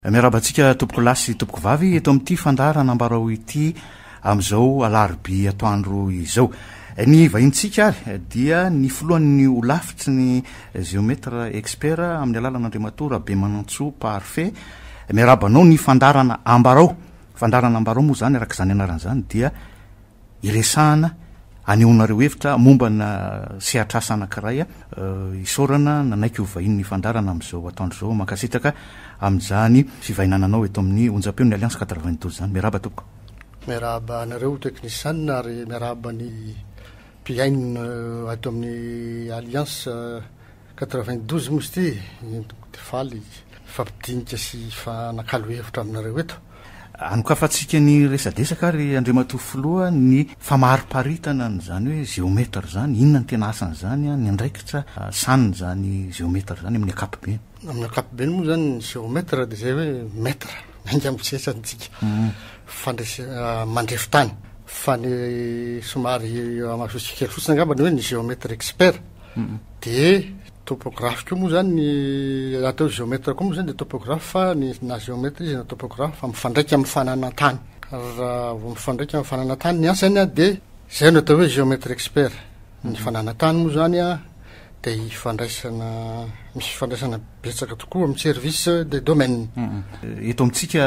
Miarahaba antsika tompokolahy sy tompokovavy eto amin'ity fandaharana ambarao ity amin'izao alarobia atoandro izao. Ny vahintsika ary dia ny filohan'ny holafitry ny Géomètre Expert amin'ny alalana Andriamatoa Rabemanantsoa Parfait. Miarahaba anao ny fandaharana ambarao. Fandaharana ambarao moa izany araka izany anarany izany dia Iresahana, anehoanareo hevitra mombana sehatr'asa anankiray, isaorana nanaiky ho vahinin'ny fandaharana amin'izao atoandro izao, mankasitraka amin'izany fivahinananao eto amin'ny onjam-peo ny Alliance quatre-vingt-douze izany, miarahaba tompoko. Miarahaba anareo teknisiana ary miarahaba ny mpihaino ato amin'ny Alliance. Quatre-vingt-douze mousty, entiko dia faly hifampidinika sy hifanakalo hevitra aminareo eto. Anokafantsika ny resadresaka ary Andriamatoa Filoha ny famariparitana an'izany hoe géomètre izany, inona ny tena asan'izany, ny andraikitra asaniny izany géomètre izany amin'ny ankapobeny. Amin'ny ankapobeny moa izany ny géomètre dia izay hoe mètre, enga amin'ny sehatrantsika, fandrese- mandrefy tany. Fa ny somary eo amasontsika kely fotsiny angamba ny hoe ny géomètre expert. Dia topographe koa moa izany ny atao géomètre koa moa izany dia topographe fa ny na géomètre izy na topographe fa mifandraika amin'ny fananan-tany. Raha vao mifandraika amin'ny fananan-tany ny asany dia izay no atao hoe géomètre expert. Ny fananan-tany moa izany dia ifandraisana, misy fifandraisana betsaka tokoa amin'ny service des domaines. Eto amintsika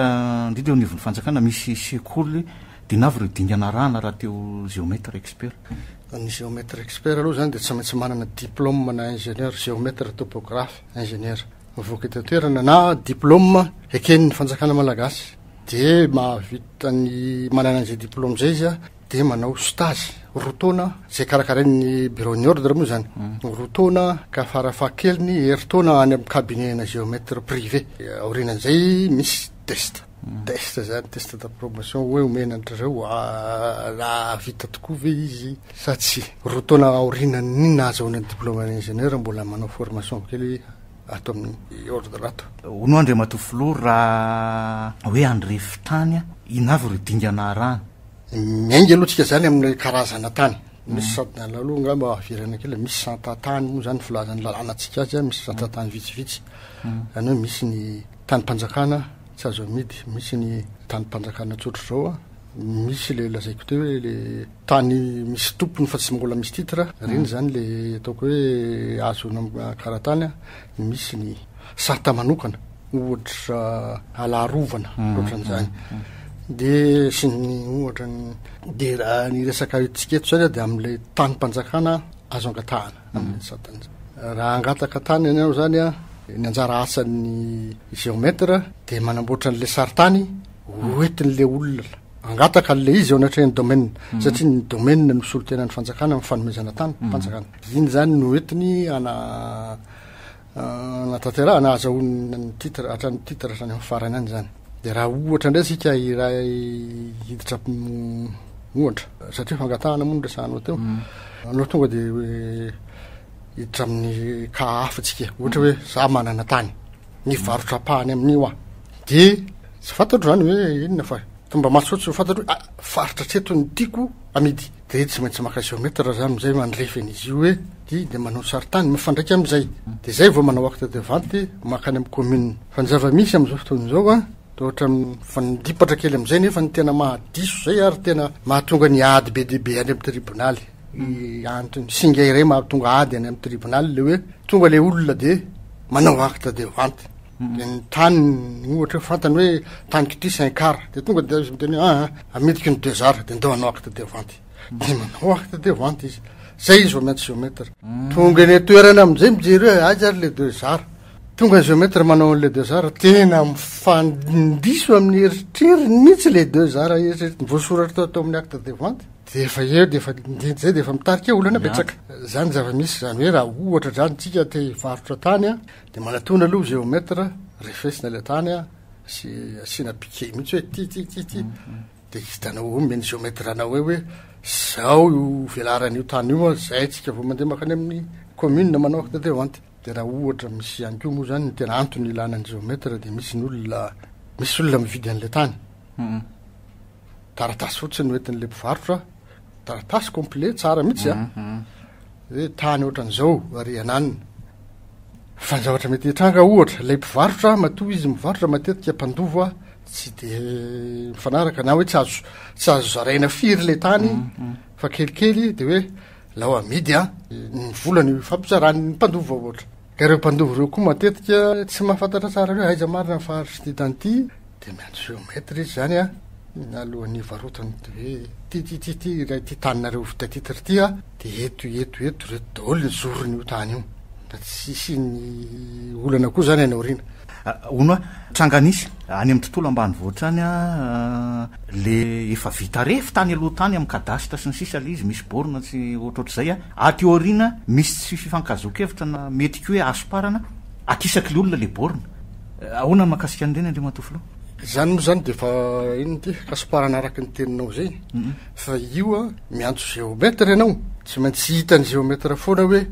indrindra eo anivon'ny fanjakana misy sekoly, dia inona avy ireo dingana arahana raha te ho géomètre expert? Ny géomètre expert aloha izany dia tsy maintsy manana diplôme na ingénieur géomètre topographe ingénieur mivoaka eto an-toerana na diplôme eken'ny fanjakana malagasy dia mahavita ny manana an'izay diplôme izay izy dia manao stage roa taona izay karakarain'ny bureau ny ordre moa izany mm. roa taona ka farafahakeliny herintaona any amin'ny cabinet na géomètre privé aorianan'izay misy test test izany, test d'approbation, hoe omena an-dry zareo raha vita tokoa ve izy sa tsia. Roa taona aorianan'ny nahazahoana ny diplôme ingénieur mbola manao formation kely ato amin'ny ordre ato. Hono Andriamatoa Filoha raha hoe handrefy tany inona avy ireo dingana arahana? Miainga aloha tsika izany amin'ny karazana tany. Misy santana aloha angamba haverana kely, misy santantany moa izany filazan'ny lalàna antsika azy, misy santantany vitsivitsy. Izany hoe misy ny Tanim-panjakana tsy azo amidy, misy ny tanim-panjakana tsotra izao a, misy ilay lazaiko teo hoe ilay tany misy tompony fa tsy mbola misy titre, ireny izany ilay ataoko hoe azo nanan-karatany a, misy ny sata manokana ohatra ala arovana ohatran'izany dia sy ny ohatra ny, dia raha ny resaka antsika eto izany a dia amin'ilay tanim-panjakana azo angatahana. amin'ny satanizany. Raha hangataka tany ianao izany a, ny anjara asan'ny géomètre dia manamboatra an'ilay sarintany hoentin'ilay olona hangataka an'ilay izy eo anatrehan'ny domaine, mhm. satria ny domaine no solontenan'ny fanjakana amin'ny fanomezana tany, mhm. fanjakana. Iny izany no hoentiny ana natanterahana ahazahoana ny titre hatrany titre hatrany amin'ny farany any zany de raha ohatra indray sika iray hiditra ohatra satria fangatahana moa nyresahanao teo mm. anao tonga de hoe hiditra amin'ny ka hafatsika ohatra hoe za manana tany ny mm. varotrapahany amin'io a de tsy fantatro zany hoe inona fa tomba masotsy fantatro hoe ah, faritra treto ny tiako amidy Dia tsy maintsy maka géomètre zany amizay mandrefy an'izy io hoe ty dia manao sarintany mifandraika amizay. Dia zay vao manao acte de vente makany amin'ny commune. Fa ny zava-misy amizao fotoana izao an, dia ohatrany mifandipatra kely amizay nefa ny tena mahadiso zay ary tena mahatonga ny ady be dia be any amin'ny tribonaly. Antony singa iray mahatonga ady any amin'ny tribonaly le hoe tonga le olona dia manao acte de vente. ny tany ohatra hoe fantany hoe tany kitri saint car dia tonga dia izy miteny hoe aa miditra ny deux arts dia ndao hanao acte de vente dia manao acte de vente izy zay izy vao miantso géomètre tonga eny an-toerana amin'izay mijery hoe aiza ary le deux arts tonga ny géomètre manao an'le deux arts tena mifandiso amin'ny eritreriny mihitsy le deux arts eritreritiny voasoratra tao tao amin'ny acte de vente dia efa eo dia efa indinty izay dia efa mitarika olana betsaka izany zava-misy izany hoe raha ohatra izany tsika te hivarotra tany a Dia manatona aloha géomètre, refesina ilay tany an, sy asiana piquet mihitsy hoe ty ty ty ty. Dia hitanao eo men'ny géomètre anao eo hoe zao io velaran'io tany io an, zay tsika vao mandeha makany amin'ny commune manao acte de vente. Dia raha ohatra misy ihany koa moa zany ny tena antony ilana ny géomètre dia misy ny olona, misy olona mividy an'ilay tany. taratasy fotsiny no entin'ilay mpivarotra taratasy complet tsara mihitsy a ah. mhm, mhm. hoe tany ohatran'izao ary ananina fa ny zavatra mety hitranga ohatra ilay mpivarotra matoa izy mivarotra matetika mpandova tsy de mifanaraka na hoe tsy azo tsy azo zaraina firy le tany mhm, fa kelikely de hoe lao amidy a ny volany fampizarany ny mpandova ohatra Ka ireo mpandova ireo koa matetika tsy mahafantatra tsara hoe aiza marina ny faritry ty tany ty dia miandry géomètre izy zany a alohan'ny hivarotany hoe ty ty ty ty ilay ty taninareo vita titre ty a dia eto eto eto reto daholo ny zorony io tany io mba tsy hisian'ny olana koa zany any aoriana Hono a! Tranga nisy any amin'ny tontolo ambanivohitra any a! le efa vita refy tany aloha tany amin'ny cadastre sy ny sisa le izy misy borne tsy ohatrohatr'izay a! Aty aoriana misy tsy fifankahazoan-kevitra na mety koa hoe hasomparana akisaky le olona le borne. Ahoana ny mahakasika an'ireny Andriamatoa Filoha? Izany moa izany dia efa inona ity? Hasomparana araka ny teninao izay fa io a! miantso géomètre ianao tsy maintsy hitan'ny géomètre foana hoe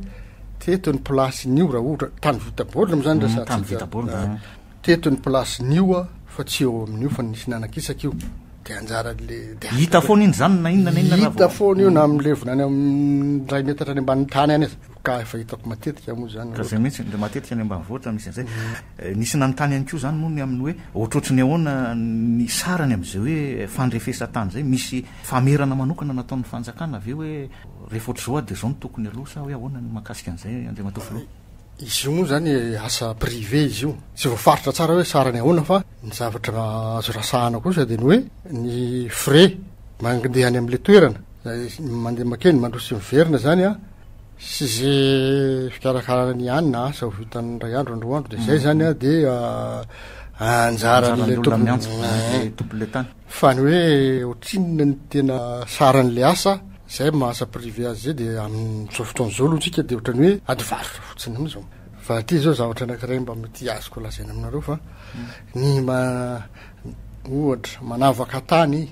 Teto ny plasin'io raha ohatra, tany vita baorina moa zany mm, resahantsika. Tany vita baorina. Ah, teto ny plasin'io ah, fa tsy eo amin'io fa nisy nanakisaka io. Dia anjaran'le dia hita foana iny zany na inona na inona hita foana io na amin'ny levona any amin'ny ray metatra any ambanin'ny tany any aza. Ka efa hitako matetika moa zany. Ka zay mihitsy le matetika any ambanivohitra misy an'zay. Mm. Eh, nisy nanontany ihany koa zany moa ny amin'ny hoe ohatrohatry ny ahoana ny sarany amin'izay hoe fandrefesan-tany zay misy Famerana manokana nataon'ny fanjakana ve hoe rehefa ohatr'izao ady dia izao no tokony aloha sa hoe ahoana ny mahakasika an'izay Andriamatoa Filoha? Izy io moa izany asa privé izy io. Tsy voafaritra tsara hoe sarany ahoana fa ny zavatra azo rasahana kosa dia ny hoe ny frais mandeha any amin'ilay toerana izay mandeha makeny mandroso sy miverina izany an, sy izay fikarakarana ny any na asa ho vitan'ny indray andro na roa andro dia izay izany an dia anjaran'ilay tompon'ilay tany. Fa ny hoe otrinona ny tena saran'ilay asa zay maha asa privé azy zay dia amin'izao fotoana izao aloha tsika dia ohatrany hoe ady varotra fotsiny am zao. Fa aty izao zavatra anakiray mba mety azoko lazaina aminareo fa ny ma ohatra manavaka tany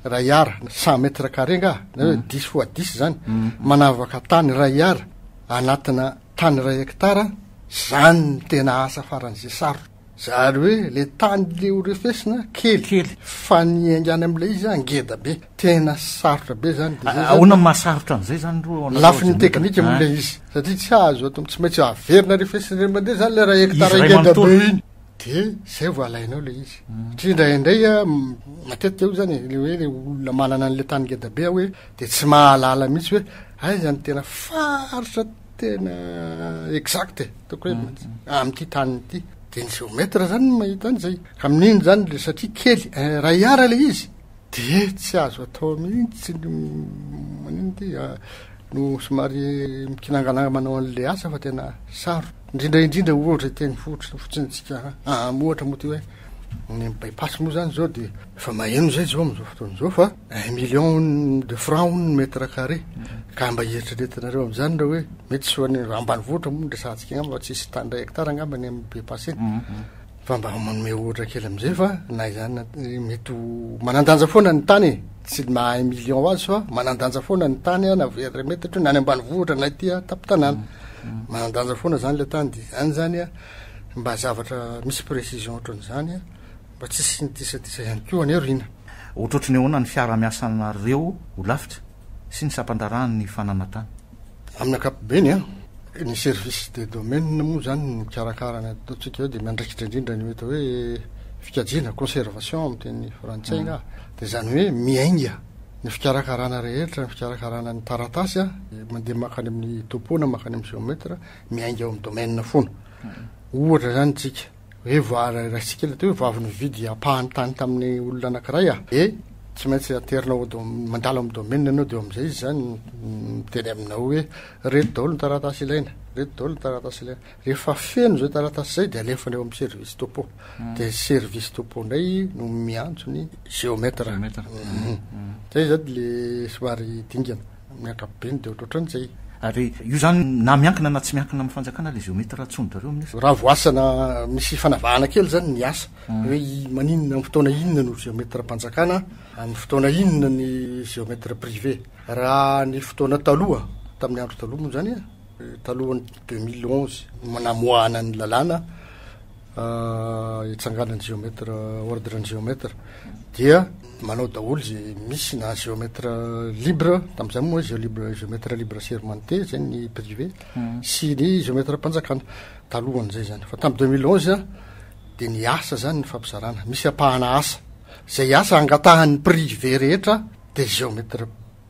ray ara na cent mètres carrés nga na hoe mm. dix fois dix zany mm. manavaka tany ray ara anatina tany ray hectare zany tena asa faran'izay sarotra. Zary hoe le tany le ho refesina kely fa ny hiaingana amin'ilay izy ngeda be. Tena sarotra be zany. Dia zay zany. Ahoana no mahasarotra an'izay zany ro ao anatin'ny Lafiny ordinateur? teknika moa Ah. ilay izy satria tsy azo ato am- tsy maintsy averina refesina indray mandeha zany le raha Izy hektara iray ngeda be manontolo. iny. Dia zay vao alainao le izy. Satria indraindray a, m- matetika io zany e, le hoe le olona manana an'le tany ngeda be hoe dia tsy mahalala mihitsy hoe aiza no tena faritra tena exact e. Tokony hoe amin'ity tany ity. Dia ny géomètre zany no mahita an'izay. Ka amin'iny zany le satria kely iray ara le izy dia tsy azo atao mihitsy ny manino ty a, no somary mikinangananga manao an'le asa fa tena sarotra. Indrindra indrindra ohatra teny fotsiny fotsiny tsika a, ohatra moa ty hoe ny by pass moa zany zao dia. Efa maheno izay izao amin'izao fotoana izao fa un million de francs hono ny mètre carré. Ka mba hieritreretinareo amin'izany raha hoe mety tsy ho any raha ambanivohitra moa no resahantsika angamba fa tsisy tany iray hectare angamba any amin'ny be passé. Fa mba manome ohatra kely amin'izay fa na izany na mety ho manandanja foana ny tany e. Tsy ny maha un million azy fa manandanja foana ny tany na very metatra io na any ambanivohitra na ety an-tampon-tanàna. Manandanja foana izany ilay tany dia izany izany mba zavatra misy précision ohatran'izany. Mba tsy hisy ny disadisa ihany koa anie Rina. Otrotry ny ahoana ny fiarahamiasanareo holafitra sy ny sampandraharahan' ny fananantany? Amin'ny ankapobeny an! Ny service des domaines moa izany ny mikarakara ny ataontsika eo dia miandraikitra indrindra ny atao hoe fikajiana, conservation amin'ny teny frantsay angaha, dia izany hoe miainga ny fikarakarana rehetra, ny fikarakarana ny taratasy an, mandeha mankany amin'ny topo na mankany amin'ny géomètre, miainga ao amin'ny domaine foana. Ohatra izany isika. hoe va raisintsika ilay teo hoe vavy nividy ampahany tany tamin'ny olona anankiray ah dia tsy maintsy aterinao ao dom- mandalo amin'ny domaine ianao dia eo amin'izay izy zany miteny aminao hoe reto daholo ny taratasy ilaina reto daholo ny taratasy ilaina rehefa feno izay taratasy izay dia alefany ao amin'ny service topo dia service topo indray no miantso ny géomètre Mhm. zay zany le somary dingana Amin'ny ankapobeny dia ohatrohatran'izay. Ary io izany na miankina na tsy miankina amin'ny fanjakana ilay géomètre antsoin-dRareo amin'io. Raha voasana misy fanavahana kely izany ny asa. Hoe maninona amin'ny fotoana inona no géomètre mpanjakana, amin'ny fotoana inona ny géomètre privé. Raha ny fotoana taloha, tamin'ny andro taloha moa izany e, talohan'ny deux mille onze, namoahana ny lalàna, hitsanganan'ny géomètre ordre ny géomètre dia manao daholo izay misy na géomètre libre tamin'izay moa izay libre géomètre libre sermenté izay ny privé hmm. sy ny géomètre mpanjakana talohan'izay zany fa tamin'ny 2011 dia ny asa zany ny fampizarana misy ampahana asa izay asa angatahan'ny privé rehetra dia géomètre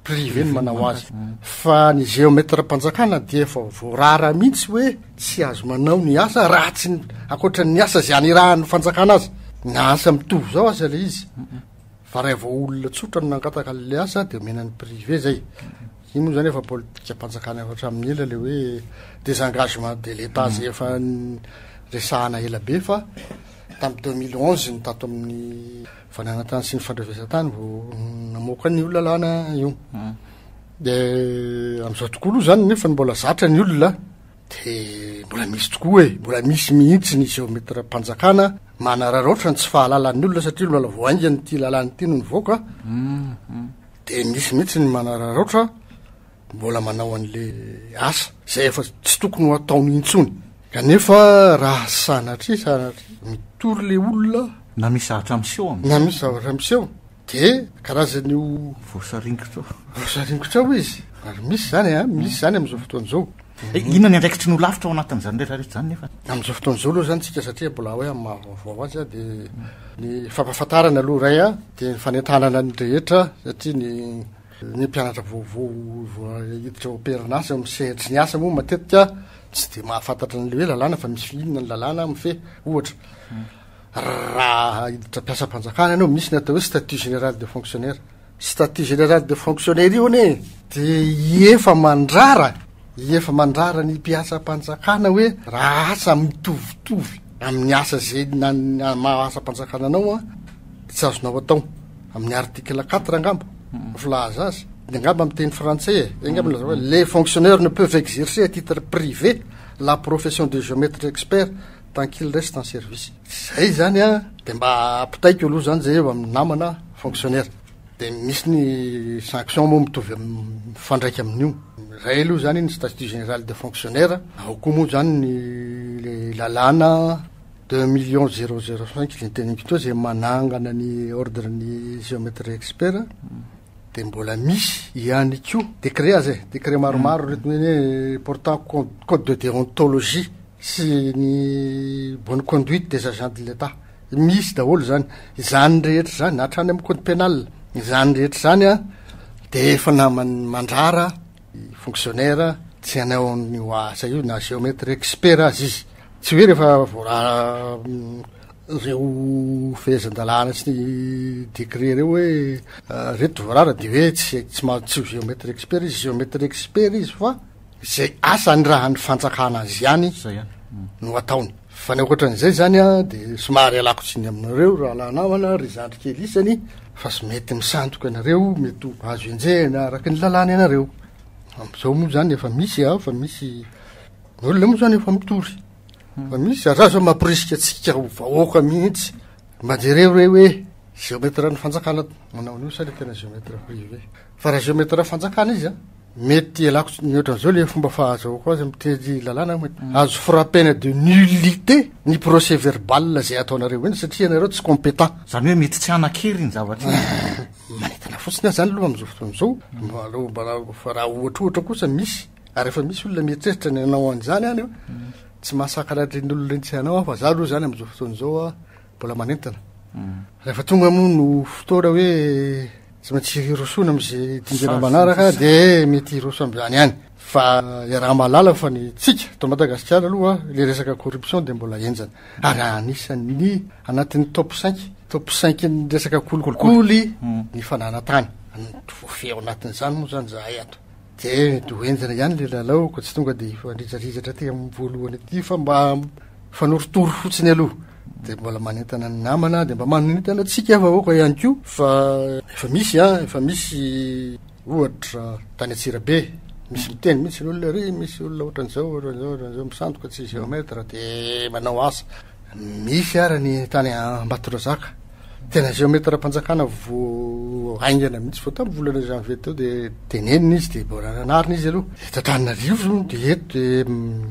privé no manao azy fa ny géomètre mpanjakana dia efa voarara mihitsy hoe tsy azo manao ny asa raha tsy ankoatra ny asa zay anirahan'ny fanjakana azy ny asa mitovy zao aza le izy fa raha vao olona tsotra no nangataka le asa dia omena ny privé zay iny moa zany efa politika mpanjakana efa hatramin'ny ela le hoe des engagements de l'état zay efa resahana ela be fa tamin'ny 2011 ny tato amin'ny Fananantany sy ny fandrafesantany vao namoaka ny io lalàna io. Hmm. Dia amin'izao tokoa aloha izany nefa ny mbola zatra ny olona dia mbola misy tokoa e, mbola misy mihitsy ny geometram-panjakana manararaotra ny tsy fahalalan'ny olona satria mbola vao haingana ity lalàna ity no nivoaka. Hmm, hmm. Dia misy mihitsy ny manararaotra Mbola manao an'le asa zay efa tsy tokony ho ataony intsony. Kanefa raha sanatria sanatria mitory le olona Na misy zavatra miseho amin'izay. na misy zavatra miseho de karazan'io Voasaringotra ao. voasaringotra ao izy. Ary misy zany a, misy zany amin'izao fotoana izao. Eh, Inona ny andraikitry ny ho lavitra ao anatin'izany rehetra rehetra izany nefa? Amin'izao fotoana izao aloha zany tsika satria mbola hoe amin'ny maha vaovao azy a de ny fampahafantarana aloha iray a de ny fanentanana ny rehetra satria ny Ny mpianatra vaovao vao hiditra amperin'asa eo amin'ny sehatry ny asa moa matetika tsy dia mahafantatra an'ilay hoe lalàna fa misy inona ny lalàna mifehy. Ohatra, raha hiditra mpiasam-panjakana ianao, misy ny atao hoe statut général de fonctionnaire. Statut général de fonctionnaire io anie dia hiefa mandrara, hiefa mandrara ny mpiasam-panjakana hoe raha asa mitovitovy amin'ny asa izay na- maha asam-panjakana anao an, dia tsy azonao atao. Amin'ny article quatre angamba no filaza azy. Dia angamba amin'ny teny frantsay e. Enga aloha lazao hoe les fonctionnaires ne peuvent exercer à titre privé la profession de géomètre expert tant qu'ils restent en service. Izay izany an, dia mba ampitaiko aloha izany izay eo amin'ny namana fonctionnaire. Dia misy ny sanction moa mitovy amin'ny mifandraika amin'io. Izay aloha izany ny statut général des fonctionnaires. Ao koa moa izany ny lalàna. Deux millions zéro zéro cinq zay teny ampitoa izay manangana ny ordre ny géométrie expert dia mbola misy ihany koa décret aza e décret maromaro reto ny hoe portant co- code de déontologie sy ny bonne conduite des agents de l'état misy daholo izany izany rehetra izany hatrany amin'ny code pénal izany rehetra izany a dia efa naman- mandrara Fonctionnaire tsy hanao an'io asa io na géomètre expert aza izy. Tsy hoe rehefa voararan'ireo fehezan-dalàna sy ny décret ireo hoe ireto voarara dia hoe tsy tsy mahazo tsy ho géomètre expert izy. Géomètre expert izy fa izay asa anirahan'ny fanjakana azy ihany no ataony. Fa ny ankoatran'izay izany dia somary ialako tsiny aminareo rahalahy namana, ry zandry kely isany, fa tsy mety misandoka ianareo, mety ho azo enjehina araka ny lalàna ianareo. Amin'izao moa izany efa misy, efa misy ny olona moa izany efa mitory. Fa misy zazà izao mamporisika antsika ho vahoaka mihitsy. Mba jereo re hoe géomètre ny fanjakana manao an'io sa ilay tena géomètre privé. Fa raha géomètre fanjakana izy an! Mety ialako tsy ny ohatran'izao le fomba fahazahoako azy miteny lalàna mety mm. azo frappena de nullité ny procès verbal zay ataonareo eny satria ianareo tsy compétent zany hoe mety tsy hanakery ny zavatra manetana fotsiny azy zany aloha am'izao fotoana izao mba aloha mba fa raha ohatra ohatra kosa misy ary efa misy olona mieritreritra ny anao an'izany any mm. tsy mahasakana reny olona reny tsy anao aho fa za aloha zany am'izao fotoana izao a Mbola manentana. Rehefa tonga moa no fotoana hoe tsy maintsy hirosoana amin'izay dingana manaraka dia mety hiroso amin'izany ihany. Fa iaraha-mahalala fa ny tsika eto Madagasikara aloha ilay resaka corruption dia mbola henjana. Ary anisan'ny anatin'ny top cinq, top cinq-n'ny resaka kolikoly ny fananantany. Voafehy ao anatin'izany moa izany izahay ato. Dia midoro henjana ihany ilay lalao ka tsy tonga dia hifanrizaridratra aty amin'ny voalohany aty fa mba mifanorotoro fotsiny aloha. Dia mbola manentana ny namana dia mba manentana antsika vahoaka ihany koa fa efa misy an, efa misy ohatra tany Antsirabe misy miteny mihitsy ny olona ry misy olona ohatran'izao ohatran'izao ohatran'izao misandoka tsy géomètre dia manao asa. Misy ara ny tany Ambatondrazaka. Tena géomètre-mpanjakana vo haingana mihitsy vao tamin'ny volana janvier teo dia tenenina izy dia mbola nanarina izy aloha. Eto Antananarivo dia eto dia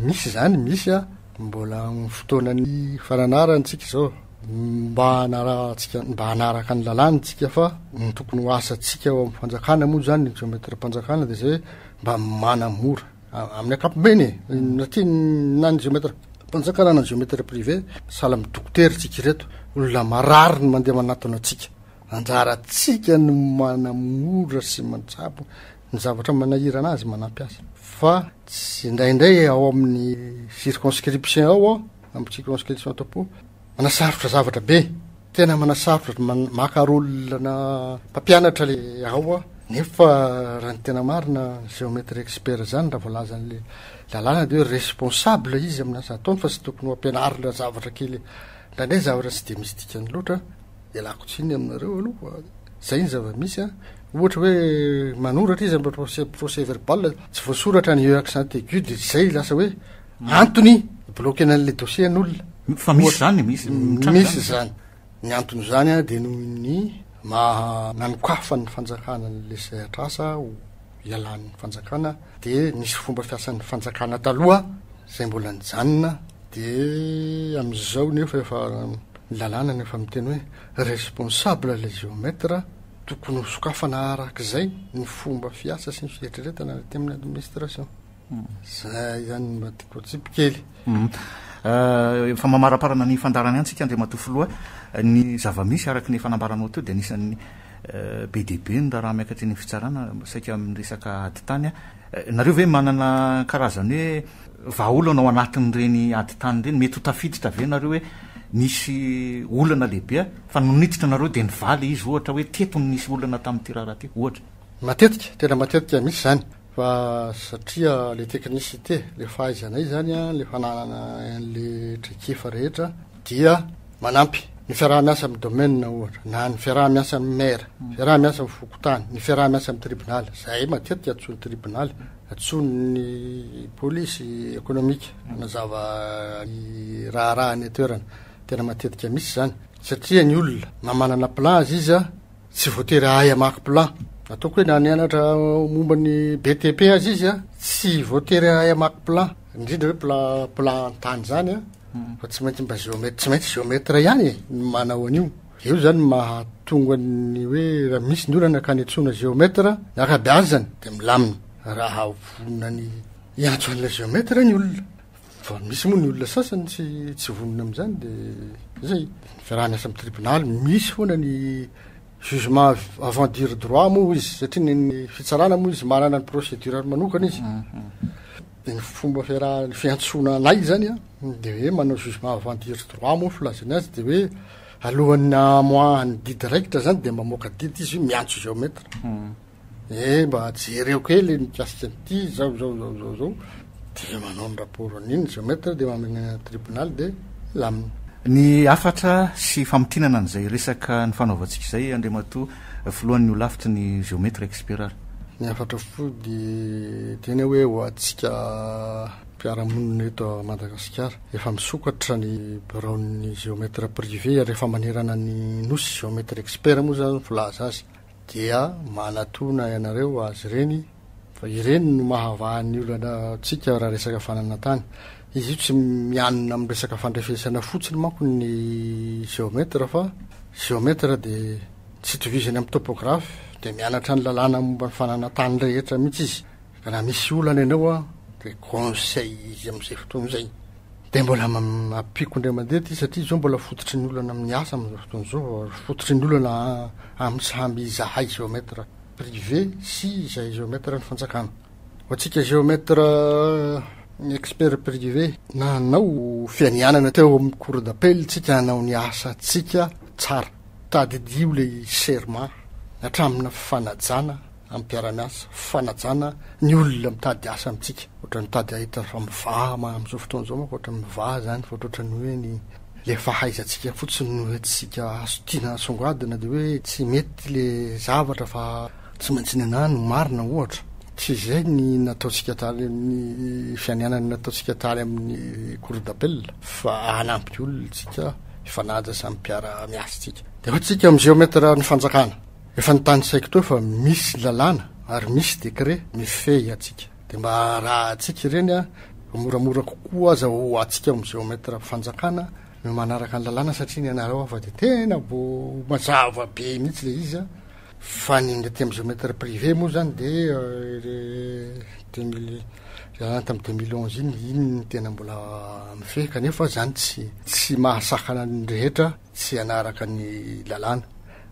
misy izany, misy a mbola amin'ny fotoanan'ny fananarany tsika izao. Mba hanarahantsika, mba hanaraka ny lalàny tsika fa ny tokony ho asantsika ao amin'ny fanjakana moa izany ny géomètre-mpanjakana dia izay hoe mba manamora. amin'ny ankapobeny e na ty na ny géomètre mpanjakana na ny géomètre privé sahala amin'ny dokotera tsika ireto olona marary ny mandeha manatona antsika anjaratsika no manamora sy mantsabo ny zavatra manahirana azy manampy azy fa tsy indraindray ao amin'ny circonscription ao amin'ny circonscription tompo Manasarotra zavatra be, tena manasarotra maka rôle na mpampianatra le ao a. Nefa raha ny tena marina géomètre expert zany raha voalaza an'le lalàna de hoe responsable izy amin'ny asa ataony fa tsy tokony ho ampianarina zavatra kely indraindray zavatra tsy de misy dikany loatra. Ialako tsiny aminareo aloha zay ny zava-misy a. Ohatra hoe manoratra izy amin'ny procès procès verbal tsy voasoratra ny e accent aigu de tsy zay lasa hoe Antony bloquena an'le dossier an'olona. Fa misy zany, misy mitranga. Misy zany. Ny antony zany a de noho ny maha nanokafan'ny fanjakana an'le sehatr'asa ho ialan'ny fanjakana de nisy fomba fiasan'ny fanjakana taloha zay mbola nijanona de am'zao nefa efa ny lalàna nefa miteny hoe responsable le géomètre tokony ho sokafana arak'izay ny fomba fiasa sy ny fieritreretana aty amin'ny administration. Izay ihany mba tiako atsipy kely. Efa mamaraparana ny fandaharany ihany tsika Andriamatoa Filoha. Ny zava-misy araka ny efa nambaranao teo dia anisan'ny be dia be ny raharaha miakatra eny amin'ny fitsarana saika amin'ny resaka ady tany. Nareo ve manana karazany hoe vahaolana ao anatin'ireny ady tany ireny? Mety ho tafiditra ve nareo hoe nisy olana lehibe fa nony niditra anareo dia nivaly izy ohatra hoe teto no nisy olana tamin'ity raharaha ity ohatra? Matetika, tena matetika misy izany. Fa satria le technicité, le fahaizanay izany an, le fananana an'le traikefa rehetra dia manampy ny fiaraha-miasa amin'ny domaine ohatra, na ny fiaraha-miasa amin'ny maire, fiaraha-miasa amin'ny fokontany, ny fiaraha-miasa amin'ny tribonaly, izay matetika antsoin'ny tribonaly, antsoin'ny polisy ekonomika hanazava ny raharaha any an-toerana, tena matetika mihitsy izany, satria ny olona na manana plan aziza, Tsy voatery hahay hamaky plan. Ataoko hoe na nianatra momba ny BTP aza izy a, tsy voatery hahay hamaky plan, indrindra hoe plan plan an-tany izany a, hmm. fa tsy maintsy mba géomètre, tsy maintsy géomètre ihany e, ny manao an'io. Eo zany mahatonga ny hoe raha misy ny olana ka netsoana géomètre na ankabeazany dia milamina raha vonona ny hiantso an'ilay géomètre ny olona. Fa misy moa ny olona sasany tsy tsy vonona amin'izany dia izay. Ny fiaraha miasa amin'ny tribonaly misy foana ny jugement avant dire droit moa izy satria ny ny fitsarana moa izy manana ny procédure-ny manokana izy. Dia ny fomba fiaraha ny fiantsoana anay izany an dia hoe manao jugement avant dire droit moa ny filazany azy dia hoe alohan'ny hamoahany didy raikitra izany dia mamoaka didy izy miantso géomètre. Eh mba jereo kely mikasika an'ity zao zao zao zao zao dia manao ny rapport an'iny géomètre dia mamenena ny tribunal dia lamina. Ny hafatra sy famintinana an'izay resaka nifanaovantsika izay Andriamatoa Filohan'ny Holafitry ny Géomètre expert ary. Ny hafatra fohy dia tena hoe ho antsika mpiara-monina eto Madagasikara. Efa misokatra ny biraon'ny géomètre privé ary efa manerana ny Nosy, géomètre expert moa izany filaza azy. dia manatona ianareo azy ireny fa ireny no mahavaha ny olana tsika raha resaka fananantany izy io tsy mianina amin'ny resaka fandrefesana fotsiny manko ny géomètre fa géomètre dia tsy itovizany amin'ny topographe dia mianatra ny lalàna momba ny fananantany rehetra mihitsy izy Raha misy olana ianao aho dia conseil izy amin'izay fotoana izay. Dia mbola ampiako indray mandeha ity satria izao mbola fototry ny olana amin'ny asa amin'izao fotoana izao, fototry ny olana amin'ny samy izahay géomètre privé sy izay géomètre ny fanjakana. Ho antsika géomètre expert privé nanao fianianana teo amin'ny cour d'appel tsika hanao ny asantsika tsara. Tadidio ilay serment hatramin'ny fanajana. amin'ny mpiara-miasa, fanajana ny olona mitady asa amintsika. Ohatran'ny mitady hahita fa mivaha ma- amin'izao fotoana izao manko ohatran'ny mivaha izany fa ohatran'ny hoe ny ilay fahaizantsika fotsiny no entintsika aso- tiana asongadina dia hoe tsy mety ilay zavatra fa tsy maintsy ny anah no marina ohatra. Tsy izay ny nataontsika tany amin'ny fianianana nataontsika tany amin'ny cour d'appel fa hanampy olona isika hifanaja samy mpiara-miasa tsika. Dia hoy tsika amin'ny géomètre ny fanjakana. Efa notanisaiko teo fa misy lalàna ary misy décret mifehy antsika. Dia mba arahintsika ireny ho moramora kokoa aza ho antsika ao amin'ny géomètre fanjakana ny manaraka ny lalàna satria ny anareo afa dia tena mbo mazava be mihitsy ilay izy an! Fa ny aty amin'ny géomètre privé moa izany dia deux mille lalàna tamin'ny deux mille onze iny, iny no tena mbola mifehy kanefa izany tsy tsy mahasakana ny rehetra. tsy hanaraka ny lalàna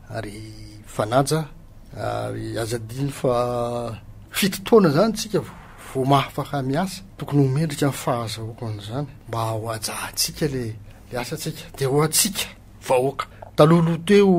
ary fanaja ary aza adino fa fito taona izany tsika vao mahafaka miasa tokony ho mendrika ny fahazahoako an'izany mba ho ajahantsika le le asa tsika de ho atsika vahoaka talohaloha teo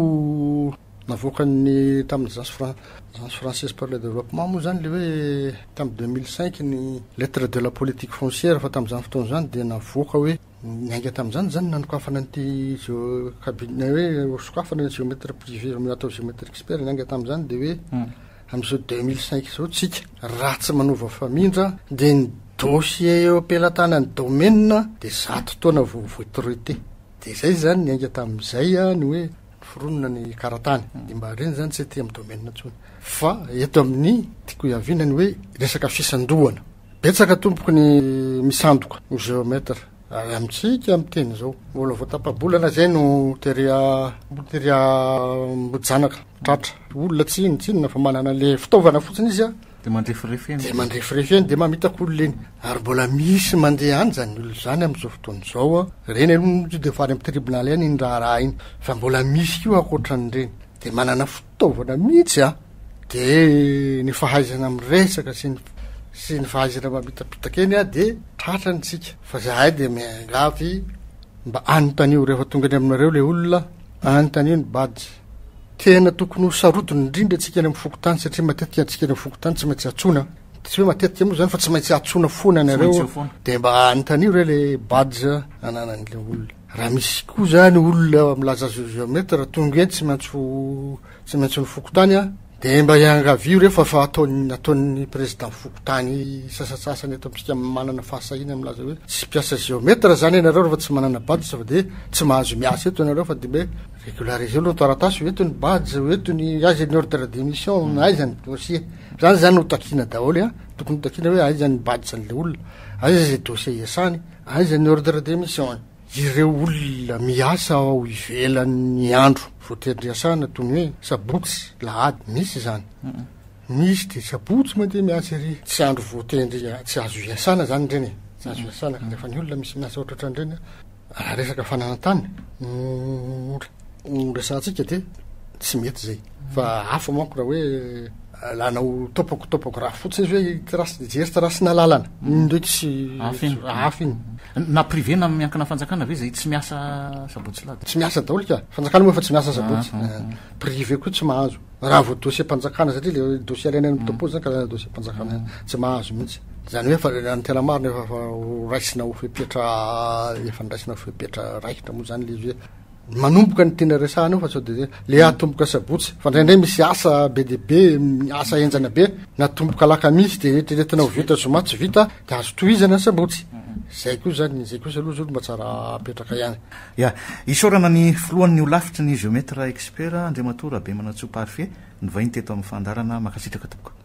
navoakan'ny tamin'ny agence fran agence française par le développement moa izany le hoe tamin'ny 2005 ny lettre de la politique foncière fa tamin'izany fotoana izany dia navoaka hoe Niainga tamin'izany izany ny nanokafana an'ity géo cabinet hoe ho sokafana ny géomètre privé amin'io atao géomètre expert niainga tamin'izany dia hoe amin'izao deux mille cinq izao isika raha tsy manova famindra dia ny dossier eo am-pelatanan'ny domaine dia zato taona vao vao traité dia izay izany niainga tamin'izay ny hoe noforonina ny karatany dia mba ireny izany tsy aty amin'ny domaine intsony fa eto amin'ny tiako hiaviana ny hoe resaka fisandohana Betsaka tompoko ny misandoka ho géomètre ary amintsika miteny izao. Mbola vao tapa-bolana izay no tery tery ambohijanaka tratra. Olona tsy inona tsy inona fa manana le fitaovana fotsiny izy a. Dia mandrefirefy eny. Dia mandrefirefy eny dia mamitaka olona eny. Ary mbola misy mandeha any izany olona izany amin'izao fotoana izao a. Ireny aloha no tonga dia efa any amin'ny tribunal any iny raharaha iny. Fa mbola misy koa ankoatran'ireny. Dia manana taovana mihitsy a! Dia ny fahaizana miresaka sy ny sy ny fahaizana mamitapitaka eny a! Dia tratra ny tsika! Fa zahay dia miangavy mba anontanio rehefa tonga any aminareo ilay olona, anontanio ny badge. Tena tokony ho sarotiny indrindra antsika any amin'ny fokontany satria matetika antsika any amin'ny fokontany tsy maintsy antsoina, tsy hoe matetika moa izany fa tsy maintsy antsoina foana ianareo, dia mba anontanio re ilay badge ananan'ilay olona. Raha misy koa zany olona milaza azy io géomètre tonga eny tsy maintsy ho tsy maintsy ny fokontany a dia mba iangavio re fa fa ataony nataon'ny président fokontany sasatsasany eto amintsika manana fahasahiana milaza hoe tsy mpiasa géomètre zany ianareo rehefa tsy manana badge fa dia tsy mahazo miasa eto ianareo fa dia hoe régulariseo aloha ny taratasy ho eto ny badge ho eto ny aiza ny ordre de mission na aiza ny dossier zany zany ho takiana daholo a tokony ho takiana hoe aiza ny badge an'ilay olona aiza izay dossier iasany Aiza ny ordre de mission? Ireo olona miasa ao ivelan'ny andro voaterin-driasana toy ny hoe sabotsy, lahady, misy izany? Misy dia sabotsy mandeha miasa ery, tsy andro voatery, tsy azo iasana izany ireny e, tsy azo iasana kanefa ny olona misy miasa ohatraohatran'ireny raha resaka fananantany no no resahantsika dia tsy mety zay fa hafa manko raha hoe lanao topoko topoko raha fotsiny izy hoe trasy de jery trasy nalalana iny ndray tsy hafa iny na privé na miankina fanjakana ve zay tsy miasa sabotsy lady tsy miasa daholo ka fanjakana moa efa tsy miasa sabotsy ah, ah, ah. Eh, privé koa tsy mahazo raha vao dossier mpanjakana satria le dossier alaina amin'ny topo zany karazana dossier mpanjakana tsy mahazo mihitsy zany hoe fa ny tena marina efa raisina ho fepetra efa ndraisina ho fepetra raikitra moa zany le izy hoe manomboka ny tiana resahana eo fa sao dia le atomboka sabotsy fa indraindray misy asa be dia be asa henjana be natomboka alakamisy dia eritreretina ho vita zoma tsy vita dia azo tohizana ny sabotsy zay koa zany izay kosa aloha zao mba tsara apetraka ihany ya isaorana ny filohan'ny holafitry ny géomètre expert Andriamatoa Rabemanantsoa Parfait nivahiny teto amin'ny fandaharana mankasitraka tompoko